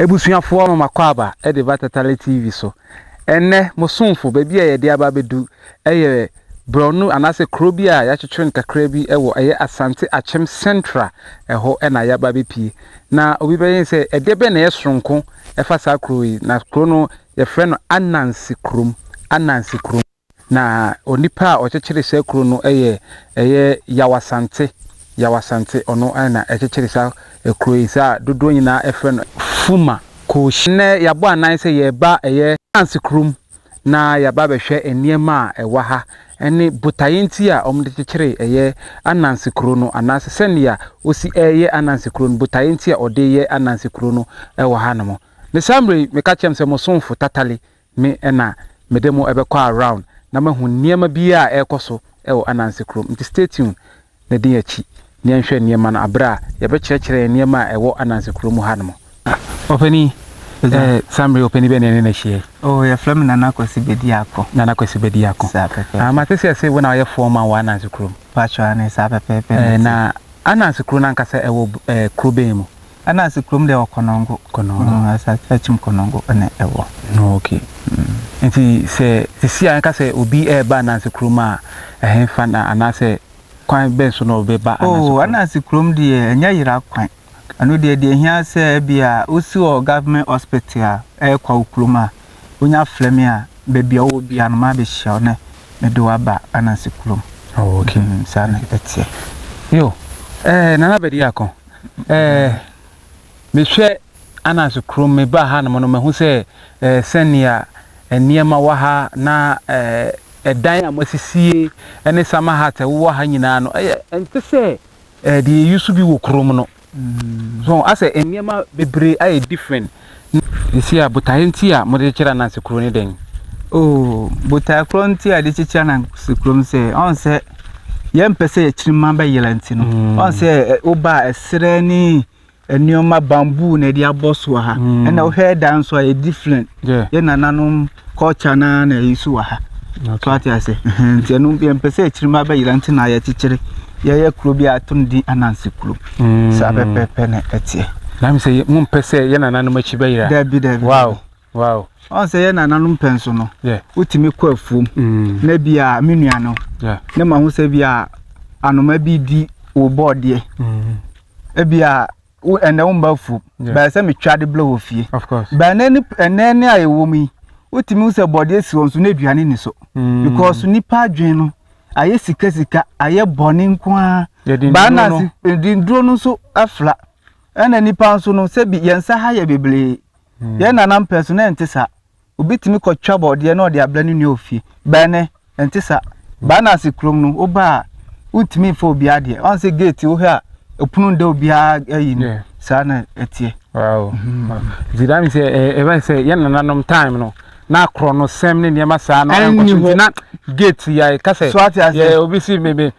Abusuafoɔ mama kɔ aba de ba Tatale TV so. Ɛnnɛ mo somfo baabi a yɛde aba abɛdu yɛ brɔno anaasɛ kuro bi a yɛakyekyere no kakra bi wɔ ɛyɛ Asante Akyem Central ɛhɔ na yɛaba abɛpie. Na obi bɛyɛ ne sɛ ɛdeɛ bɛn na ɛyɛ soronko ɛfa saa kuro yi na kuro no yɛfrɛ no Ananse kurom Ananse kurom. Na onipa a ɔkyekyere saa kuro no yɛ ɛyɛ Yaw Asante, Yaw Asante, ɔno na ɛkyekyere saa kuro yi, saa a dodoɔ nyinaa ɛfrɛ no Fuma Koohyi. Nnɛ yɛabɔ anan sɛ yɛreba ɛyɛ Hans kurom na yɛaba abɛhwɛ nneɛma a ɛwɔ ha ɛne botaeɛ nti a wɔde kyekyere ɛyɛ Ananse kuro no anaasɛ sɛdeɛ ɔsi ɛreyɛ Ananse kuro no, botaeɛ nti a ɔde reyɛ Ananse kuro no wɔ hanom. Ne saa mmerɛ yi meka kyerɛm sɛ mo somfo Tatale Me na mede mo bɛkɔ around na moahu nneɛma biara a ɛrekɔ so wɔ Ananse kurom. Nti stay tuned na di yɛn akyi na yɛnhwɛ nneɛma no bere a yɛbɛkyerɛkyerɛ yɛn nneɛma a ɛwɔ Ananse kurom mu hanom. Ɔpanin, ɛɛ saa mmere yi ɔpanin bɛn na yɛne no ahyia yi? Oh, yɛfrɛ me Nana Kwasi Bediako. Nana Kwasi Bediako. Saa pɛpɛɛpɛ. Ah, mate sɛ ɛse wo na ɔyɛ foreman wɔ Ananse kurom. Patrol, aane, saa pɛpɛɛpɛ na ɛte. Ɛɛ, na Ananse kuro no ankasa ɛwɔ ɛɛ kuro bɛn mu? Ɛna sɛ kurom deɛ wɔ kɔnɔngo. Kɔnɔngo. Mm, asa akyim kɔnɔngo ɛna ɛwɔ. No okay. Mm. Nti sɛ sisi a ɛka sɛ obi ɛɛba anansi kurom a ɛhɛn fa na anaasɛ kwan bɛn so na ɔbɛba anansi oh, kurom. Oh, anansi kurom deɛ ɛnyɛ yera kwan. Ɛno deɛ deɛ hia sɛ ebi a wosi wɔ government hospital a ɛɛkɔ wo kurom a wonya frɛ me a baabi a ɔwɔ bia no maa bɛhyia wo ne mede waba anansi kurom. Oh, okay. Mm, saa na ɛteɛ. Yo, ɛɛ eh, nana bɛdi akɔn. Ɛɛ, mehwɛ Ananse Krom, mebaa hanom no, mahu sɛ ɛɛ sɛnea nneɛma wɔ ha na ɛɛ dan a moasisie ne summer hut a ɛwowɔ ha nyinaa no, ɛyɛ ɛnte sɛ ɛɛ deɛ yɛusu bi wɔ kurom no. So asɛ nneɛma bebree ayɛ different. Seesei a botaeɛ nti a mode kyekyere ananse kuro ne dɛn? Oh, botaeɛ korɔ nti a yɛde kyekyere ananse kuro no sɛ, ɔn sɛ yɛmpɛ sɛ akyirima bɛyera nti no. Mm. Ɔn sɛ woba a ɛserɛ ne nneɛma bamboo na yɛde abɔ so ha. Mm. Ɛna wohwɛ dan nso a yɛ different. Yeah. Yɛ nananom Culture no ara na ɛyi so wɔ ha. So wate ase? Ɛhɛn, nti ɛno yɛmpɛ sɛ akyirima bɛyera nti na yɛkyekyere yɛyɛ kuro bi a ato no din Ananse Kuro. Saa pɛpɛɛpɛ na ɛteɛ. Na me sɛ yɛ- mompɛ sɛ yɛ nananom akyi bɛyera. Dabi, dabi, Wow, dabi. wow. Ɔn sɛ yɛ nananom pɛ nso no, Yeah. wotumi kɔ afuom Mm. na bi a me nua no Yeah. ne ma ho sɛ bi a anoma bi di wo bɔɔdeɛ, Mm. ebi a wo ɛnɛ wo mma afu bɛn sɛ metwa de blɛ wɔ fie bɛn ne ɛnɛ ne a yɛwɔ mu yi wotumi sɛ bɔde asi wɔn so na aduane ni so mm. because nipa adwene no ayɛ sikasika ayɛ bɔne nko ara baanase dinduro no nso afla ɛna nipa nso no sɛbi yɛn nsa ha yɛ bebree mm. yɛn nana mpɛ so na ɛnte saa Obi tumi kɔ twa bɔɔdeɛ na ɔde abrɛ ne nua wɔ fie. Bɛɛ ne, ɛnte saa. Baa na ase kurom no, wo baa a, wontumi mfa obi adeɛ. Ɔn sɛ gate wo hɛ a, ɛpono nda obi a ayi no. Saa na ɛteɛ. Wow. Nti daa mi sɛ, ɛbɛ eh, sɛ, yɛ nananom time no, na akorɔ no sɛm ne nneɛma saa no, ɛnkɔ so nti na gate yɛ, ka sɛ, yɛ obi si me me.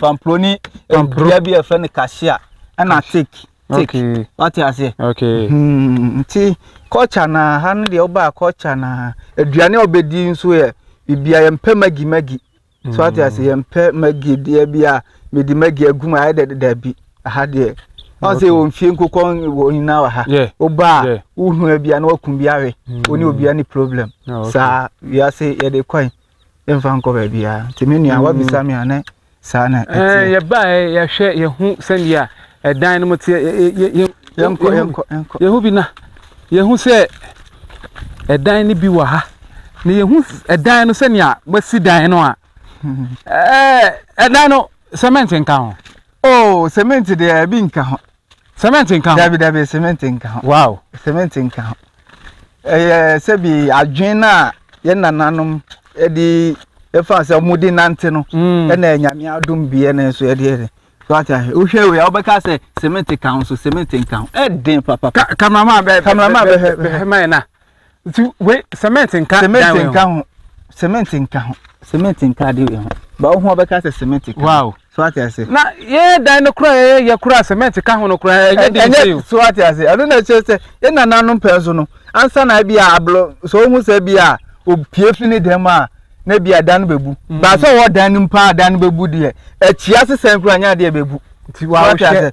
Pampro ne dua bi a ɛfrɛ no kahyia ɛna tik tik wate aseɛ hmm, nti culture na ha no deɛ wobaa culture na aduane a wobɛdi nso yɛ bibia yɛmpɛ magi magi so wate hmm. aseɛ yɛmpɛ magi deɛ bi a mede magi agu mu ayɛ dɛ daabi aha deɛ wọn sɛ wɔn fie nkokɔ wɔn nyinaa wɔ ha ɔbaa wohun bia na wakun bi awe wɔne obia ne problem saa wiase yɛde kɔn yɛmfa nkɔ baabiara nti me nua wabisa me a ne saa na ɛteɛ eh, yɛbaeɛ yɛhwɛ yɛhu sɛdeɛ ɛdan no mu teɛ yɛhu bi na yɛhu sɛ ɛdan no bi wɔ ha na yɛhu ɛdan no sɛnea moasi dan no a ɛdan no cement nka ho oh cement deɛ ɛbi nka ho Cement nka ho. Dabi dabi cement nka ho. Wow. Cement nka ho. Ɛyɛ sɛbi adwene no a yɛn nananom de ɛfa sɛ wɔn de nante no. Mm. Ɛna nyame adum bi ɛna nso yɛde yɛde. Wata hɛ. Wohwɛ wei a wobɛka sɛ cement ka ho so cement nka ho. Ɛden papa. Kameraman bɛ. Kameraman bɛ hɛ. Bɛ hɛ mayɛ na. nti wei cement nka dan wei ho cement nka ho cement nka ho cement nka ade wei ho ba wo ho ɔbɛka sɛ cement ka wow so ate ase na yɛ dan no kora yɛ yɛ kora cement ka ho no kora ɛnyɛ den sɛ yo so ate ase ɛno na ɛkyerɛ sɛ yɛ nananom pɛn so no ansa na bi a ablo so wo ho sɛ bi a opie fi ne dɛm a na bi a dan no bɛbu mm. ba sɛ ɔwɔ dan no mpa a dan no bɛbu deɛ akyia sesɛn kora nyɛ adeɛ bɛbu nti wa wo hyɛ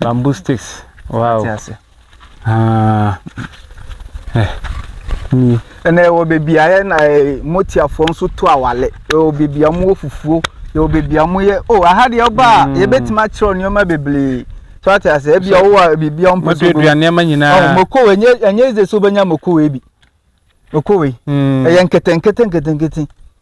Bamboo sticks. Wow. Ti ase. Ah. Eh. Ni. Ɛna ɛwɔ beebi a yɛ na eh, motiafoɔ nso to awale. Ɛwɔ beebi a wɔwɔ fufuo. Ɛwɔ beebi a wɔyɛ. Oh, aha deɛ ɔba a, mm. yɛbɛtumi akyerɛw nneɛma bebree. So ate ase, ebi a wowɔ a biribi a wɔmpɛ so. Moduadua nneɛma nyinaa. Oh, mokowe, ɛnyɛ ɛnyɛ ɛdze sɛ wobɛnya mokowe bi. Mokowe. Mm. Ɛyɛ nkete nkete nkete nkete.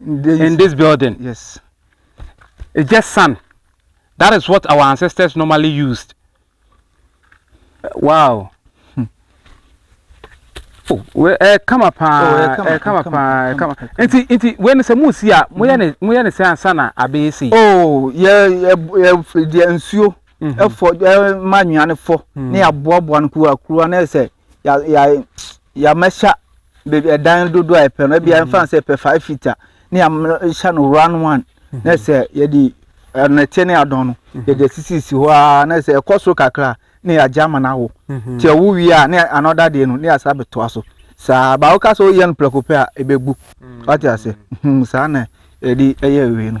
in this building yes it's just sand that is what our ancestors normally used wow hmm. oh, eh, come up, eh, eh, come up, eh, come up. Inti, inti, when the moon see ya, moya ne, moya ne say sana abe si. Oh, yeah, yeah, yeah, the ensure, effort, yeah, manual for, ne aboa aboa no kuwa kuwa na ese. ya ya yɛamɛhyɛ baabi ɛdan dodoɔ a yɛpɛ no ebi yɛmfa mm. sɛ yɛpɛ five feet a ne yɛahyɛ no round one mm-hmm. na sɛ yɛde ɛnɛteɛ ne adɔn no mm-hmm. yɛde asisisi hɔ ara na sɛ ɛkɔ soro kakra ne yɛagya ama no awo mm-hmm. nti ɛwo wie a ne anɔda deɛ no ne yɛasa bɛtoa so saa baa woka sɛ woyɛ no prɛko pɛ a ɛbɛgu mm. wate ase saa na yɛde ɛyɛ awie no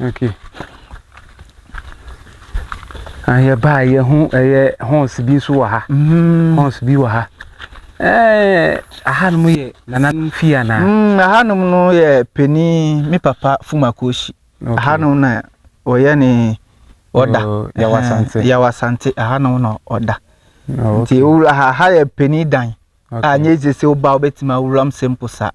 Okay. Ah, yɛ baa yɛ ho ɛyɛ horse bi nso wɔ ha. Mm. Horse bi wɔ ha. Ɛɛ ahanom yɛ nananom fie anaa? Mm, ahanom no yɛ panin me papa Fumakoshi. Okay. Ahanom na ɔyɛ ne ɔda. Oh, Yawasante. Yawasante ahanom na ɔda. Oh, okay. Nti owura ha ha yɛ panin dan. Okay. Anyɛ dze sɛ woba wobɛtumi awura m sɛ mpo sa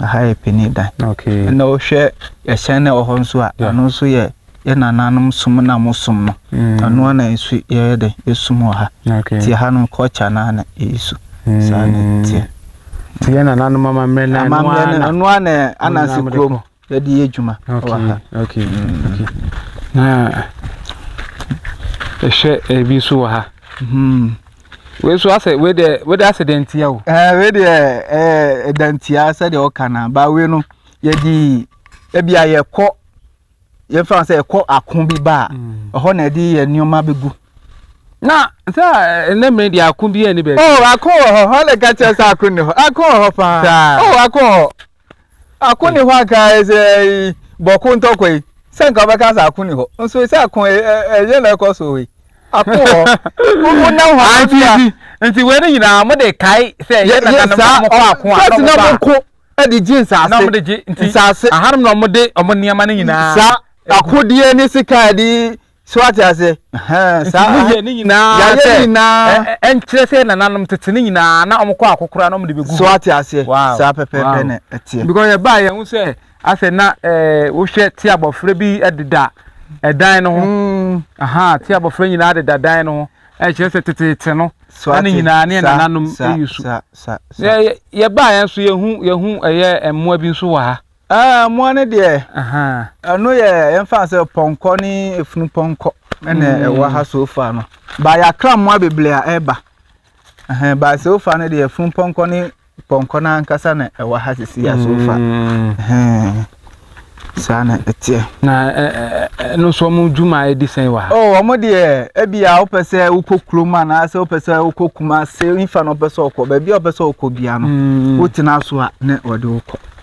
ha yɛ pani dan ɛna wohwɛ ɛhyɛn na ɛwɔ hɔ nso a ɛno nso yɛ yɛ nananom som na mo som no ɛno ana nso yɛyɛ dɛ yɛsum wɔ ha nti ha no culture no ana ɛyi so saa na ɛteɛ nti yɛ nananom amammerɛ no ɛno ana ananse kurom Yɛde yɛ adwuma wɔ ha. Okay, okay. Na ɛhwɛ ebi nso wɔ ha. Hmm. Wei nso asɛ wei deɛ wei deɛ asɛ dantia o. Ɛɛ wei deɛ ɛɛ dantia sɛdeɛ ɔka na ba wei no yɛde ebi a yɛkɔ yɛfa sɛ ɛkɔ ako bi ba a hmm. ɛhɔ na ɛde yɛ nneɛma bɛgu. na sɛ ɛnɛ mmiri deɛ ako bi yɛ ne baabi. ɔ oh, ako wɔ hɔ hɔ na ɛka kyerɛ sɛ ako ne hɔ ako wɔ hɔ paa. ɔ oh, ako wɔ hɔ. Ako ni hɔ anka sɛ bɔko ntɔkwa yi sɛ nka wobɛka sɛ ako ni hɔ nso sɛ ako ɛyɛ na ɛkɔ so yi ako hɔ wonam hɔ nti nti wei no nyinaa mo de kae sɛ yɛ na na mo kɔ ako a na mo ko de gye nsaase na mo de gye nsaase ahanom na mo de ɔmo nneɛma no nyinaa saa akodeɛ ne sika de so ate ase saa mo yɛ ne nyinaa yɛ ne nyinaa ɛnkyerɛ sɛ nananom tete ne nyinaa na wɔn kɔ akokora na wɔn de bɛ gu so ate ase saa pɛpɛɛpɛ na ɛteɛ because yɛ baa yɛn ho sɛ asɛ na ɛɛ wohwɛ te abɔfra bi ɛdeda ɛdan no ho mm. aha te abɔfra nyinaa deda dan no ho ɛkyerɛ sɛ teteete no ɛne nyinaa ne nananom ɛyi so yɛ baa yɛn so yɛhu yɛhu ɛyɛ mmoa bi nso wɔ ha. Aah mmoa no deɛ, ɛno yɛ yɛmfa sɛ pɔnkɔ ne efunu pɔnkɔ ɛna ɛwɔ ha so far no. Ba yɛakra mmoa bebree a ɛba. Ɛhɛn ba so far no deɛ efunu pɔnkɔ ne pɔnkɔ no ankasa na ɛwɔ ha sisi ya so far. Ɛhɛn saa na ɛteɛ. Na ɛno nso wɔn dwuma a ɛdi sɛn wɔ ha? Oh wɔn deɛ ebi a wopɛ sɛ wokɔ kurom anaasɛ wopɛ sɛ wokɔ Kumase nfa na wopɛ sɛ wokɔ baabi a wopɛ sɛ wokɔ bia no wotena so a na wɔde wokɔ.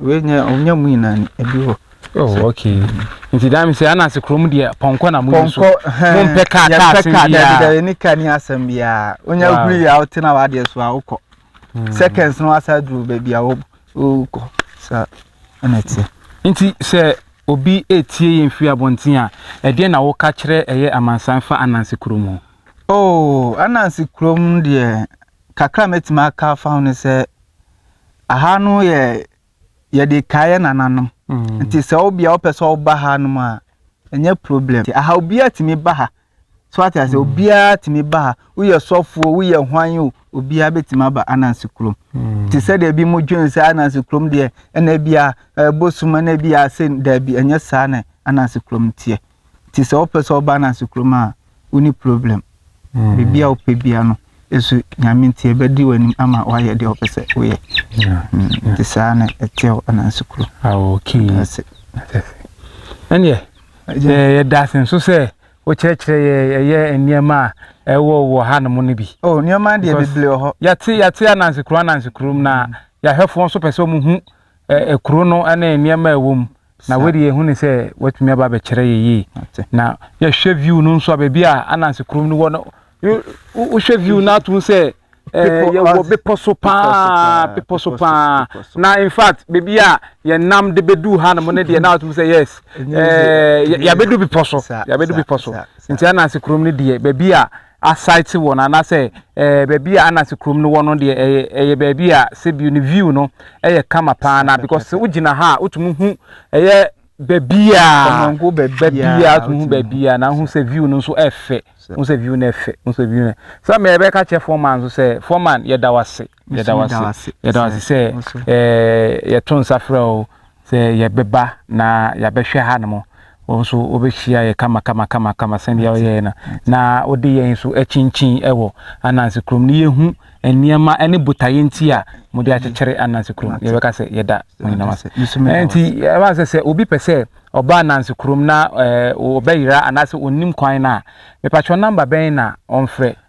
Wei nyɛ ɔnyɛ mu nyinaa ni ebi wɔ. Oh okay. Nti daa mi sɛ ana ase kurom deɛ pɔnkɔ na mo yi so. Pɔnkɔ mo mpɛ kaa kaa asɛm biara. Yɛpɛ kaa dabi dabi ne kaa ni asɛm biara. Onya guri yɛ awo tena wa adeɛ so a wokɔ. Hmm. Seconds no asa duro baabi a wokɔ sa ɛna ɛteɛ. Nti sɛ obi etie yɛn firi abɔnten a ɛdeɛ na woka kyerɛ ɛyɛ amansan fa ananse kurom ho. Oh ananse kurom deɛ Kakra a mɛtumi aka afa ho ne sɛ, aha no yɛ yɛde kae yɛ nananom. Mm. Nti sɛ wo bia wopɛ sɛ woba ha nom a, ɛnyɛ problem. Nti aha obiara tumi ba ha. So ate ase, mm. obiara tumi ba ha. Woyɛ sɔfoɔ, woyɛ hwan o, obiara bɛtumi aba Anansi kurom. Mm. Nti sɛdeɛ bi mo dwen sɛ Anansi kurom deɛ, ɛna bia ɛbɔ sum, ɛna bia sɛ daabi, ɛnyɛ saa na Anansi kurom teɛ. nti sɛ wopɛ sɛ ɔba no ase kurom a woni problem hmm. biribi a wopɛ bia no ɛso nyame nti ɛbɛdi w'anim ama woayɛ deɛ wopɛ sɛ woyɛ hmm. nti saa na ɛteɛ wo ananse kuro ɛneɛ yɛda ase nso sɛ wokyerɛkyerɛ yɛ ɛyɛ nneɛma a ɛwɔ wɔ ha nom no bi oh, nneɛma deɛ bebree wɔ hɔ yɛte yɛte ananse kuro ananse kurom na hmm. yɛahwɛfoɔ nso pɛ sɛ ɔmo hu kuro no ne nneɛma a ɛwɔ mu na wei de yɛhu no sɛ watumi aba abɛkyerɛ yɛ yie na yɛhwɛ view no nso a baabi a ananse kurom no wɔ no wohwɛ view no atom sɛ eh, yɛwɔ bepɔ so paa bepɔ so paa na in fact baabi a yɛnam de bɛduu ha no mo no deɛ na atom sɛ yes eh, yɛabɛdu bepɔ so yɛabɛdu bepɔ so nti ananse kurom no deɛ baabi a asite wɔ no anaasɛ ɛɛ baabi a anase kurom no wɔ no deɛ ɛyɛ ɛyɛ baabi a sɛbi ne view no ɛyɛ kama paa na because sɛ wogyina ha a wotumi hu ɛyɛ baabi a baabi a wotumi hu baabi a na ho sɛ view no nso ɛfɛ ho sɛ view no ɛfɛ ho sɛ view no sɛ mɛ ɛbɛka kyɛ foreman nso sɛ foreman yɛda wase Yɛda wo ase. Yɛda wo ase sɛ ɛɛ yɛto nsa frɛ wo sɛ yɛbɛba na yɛabɛhwɛ hanom. Wɔn nso wɔbɛhyia yɛ kama kama kama kama sɛdeɛ wɔyɛɛ no na wɔde yɛn nso akyinkyin wɔ Ananse kurom no yɛhu nneɛma ne botaeɛ nti a wɔde akyekyere Ananse kurom. Yɛbɛka sɛ yɛda mo nyinaa ase. Nti ɛma sɛ sɛ obi pɛ sɛ ɔba Ananse kurom na ɛɛ wɔbɛyera anaasɛ ɔnnim kwan no a, mepatwɔ namba bɛn na ɔmfrɛ?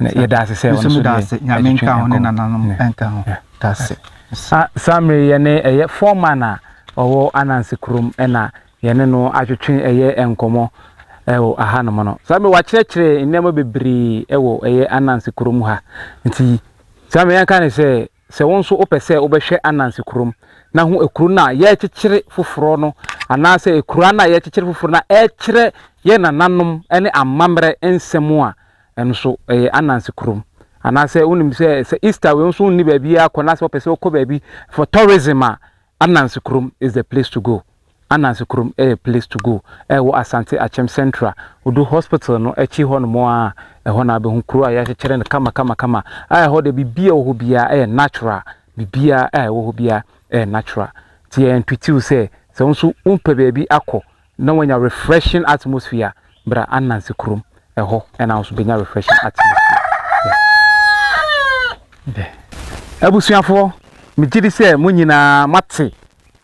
Nso meda ase Nyame nka ho ne nananom nka ho. Da ase. Saa mmerɛ yi yɛne ɛyɛ foreman a ɔwɔ Ananse kurom na yɛne no atwetwe ɛyɛ nkɔmmɔ wɔ aha nom no. Saa mmerɛ yi wakyerɛkyerɛ nneɛma bebree wɔ ɛyɛ Ananse kurom ha. Nti saa mmerɛ yi yɛnka no sɛ Sɛ wo nso wopɛ sɛ wobɛhwɛ Ananse kurom na hu ekuro no a yɛrekyekyere foforɔ no anaasɛ ekuraa no a yɛrekyekyere foforɔ no a ɛkyerɛ yɛn nananom ne amammerɛ nsɛm a, ɛno nso ɛyɛ Ananse kurom. Anaasɛ wonim sɛ sɛ Easter wei nso wonni baabiara kɔ na sɛ wopɛ sɛ wokɔ baabi for tourism a, Ananse Kurom is the place to go Ananse Kurom yɛ place to go a ɛwɔ Asante Akyem Central, Odu Hospital no akyi hɔnom ara a, ɛhɔ na wobɛhu kuro a yɛakyekyere no kamakamakama a ɛhɔ deɛ biribiara a ɛwɔ hɔ biara yɛ natural, biribiara a ɛwɔ hɔ biara yɛ natural. Nti yɛntwitiw sɛ, sɛ wo nso wompɛ baabi akɔ Na wanya refreshing atmosphere bra ananse kurom ɛhɔ ɛna wo nso bɛnya refreshing atmosphere dɛ abusuafoɔ megye di sɛ mo nyinaa moate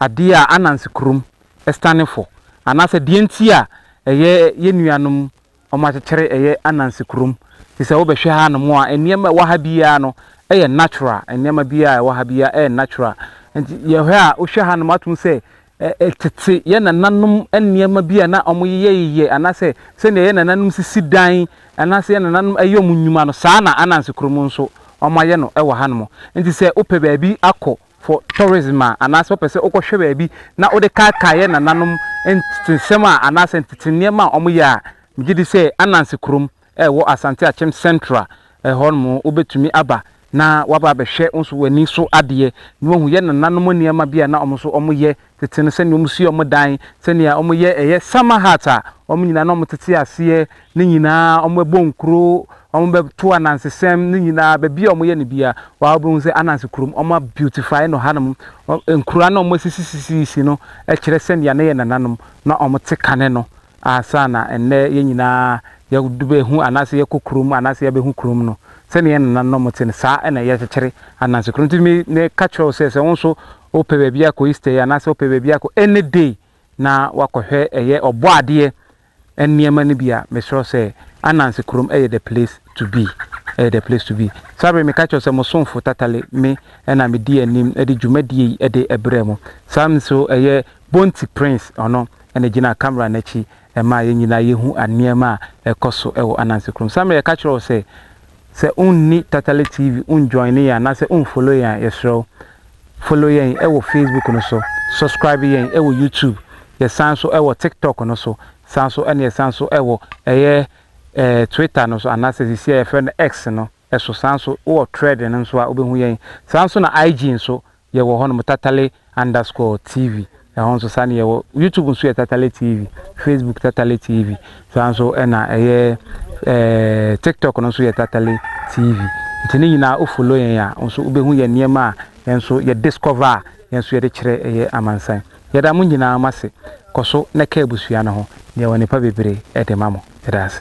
adeɛ a ananse kurom standing for anaasɛ deɛ nti a ɛyɛ yɛn nuanom wɔakyekyere ɛyɛ Ananse kurom. Nti sɛ wobɛhwɛ hanom a, nneɛma a ɛwɔ ha biara no yɛ natural. Nneɛma biara a ɛwɔ ha biara yɛ natural. Nti yɛhwɛ a, wohwɛ hanom a, wobɛtumi ahu sɛ ɛ-ɛ tete yɛn nananom nneɛma bi a na wɔyeyɛyeyɛ anaasɛ sɛnea yɛn nananom sisi dan anaasɛ yɛn nananom yɛ wɔn nnwuma no, saa na Ananse kurom nso wɔayɛ no wɔ hanom. Nti sɛ wopɛ baabi akɔ for tourism a anaasɛ wopɛ sɛ wokɔhwɛ baabi na wode kaakae yɛ nananom ntetesɛm a anaasɛ ntete nneɛma a wɔyɛ a, megye di sɛ Ananse kurom wɔ Asante Akyem Central hɔ nom wobɛtumi aba na woaba abɛhwɛ wo nso w'ani so adeɛ na woahu yɛ nananom nneɛma bi a na wɔn nso wɔyɛ tete no sɛnea wɔn si wɔn dan, sɛnea wɔyɛ ɛyɛ summer hut a wɔn nyinaa na wɔtete aseɛ ne nyinaa, wɔbɛbɔ nkuro, wɔbɛto anansesɛm ne nyinaa, baabi a wɔyɛ no biara waa wobɛhu sɛ Ananse kurom wɔn a beautify no hanom, nkuro a na wɔn asisisisisi no kyerɛ sɛnea na yɛn nananom na wɔn te kane no ansa na ɛnnɛ yɛn nyinaa yɛbɛhu anaasɛ yɛkɔ kurom anaasɛ yɛbɛhu kurom no sɛnea yɛn nananom na wɔn te no saa na yɛkyekyere Ananse kurom nti me ne ka kyerɛ wo sɛ sɛ wo nso Wopɛ baabi akɔ Easter yi anaasɛ wopɛ baabi akɔ any day na woakɔhwɛ ɛyɛ ɔbɔadeɛ nneɛma no bi a, mesrɛ sɛ Ananse kurom yɛ the place to be. Ɛyɛ the place to be. Saa bere meka kyerɛ wo sɛ mo somfo Tatale me na medi anim de dwumadie yi de brɛ mo. Saa nso ɛyɛ Bonti Prince ɔno na gyina camera no akyi ma yɛn nyinaa yɛhu nneɛma a ɛkɔ so wɔ Ananse kurom. Saa mmerɛ yɛka kyerɛ wo sɛ. Sɛ wonni Tatale TV njoine yɛn anaasɛ wonfollow yɛn a, yɛsrɛ wo follow yɛn wɔ Facebook no so, subscribe yɛn wɔ YouTube, yɛsan nso wɔ TikTok no so, san nso ɛna yɛsan nso wɔ ɛyɛ ɛɛ Twitter no so anaasɛ sisi a yɛfrɛ no X no so, san nso wowɔ Thread no nso a wobɛhu yɛn, saa nso na IG nso yɛwɔ hɔnom Tatale underscore TV, ɛhɔ nso saa na yɛwɔ. YouTube nso yɛ Tatale TV, Facebook Tatale TV, saa nso ɛna ɛyɛ ɛɛ eh, TikTok no nso yɛ Tatale TV. Nti ne nyinaa o follow yɛn a, nso wobɛhu yɛn nneɛma a yɛn nso yɛ discover a yɛn nso yɛde kyerɛ ɛyɛ amansan. Yɛda mo nyinaa mo ase, kɔ so na ka abusua no ho, deɛ wɔ nipa bebree ɛde ma mo. Yɛda ase.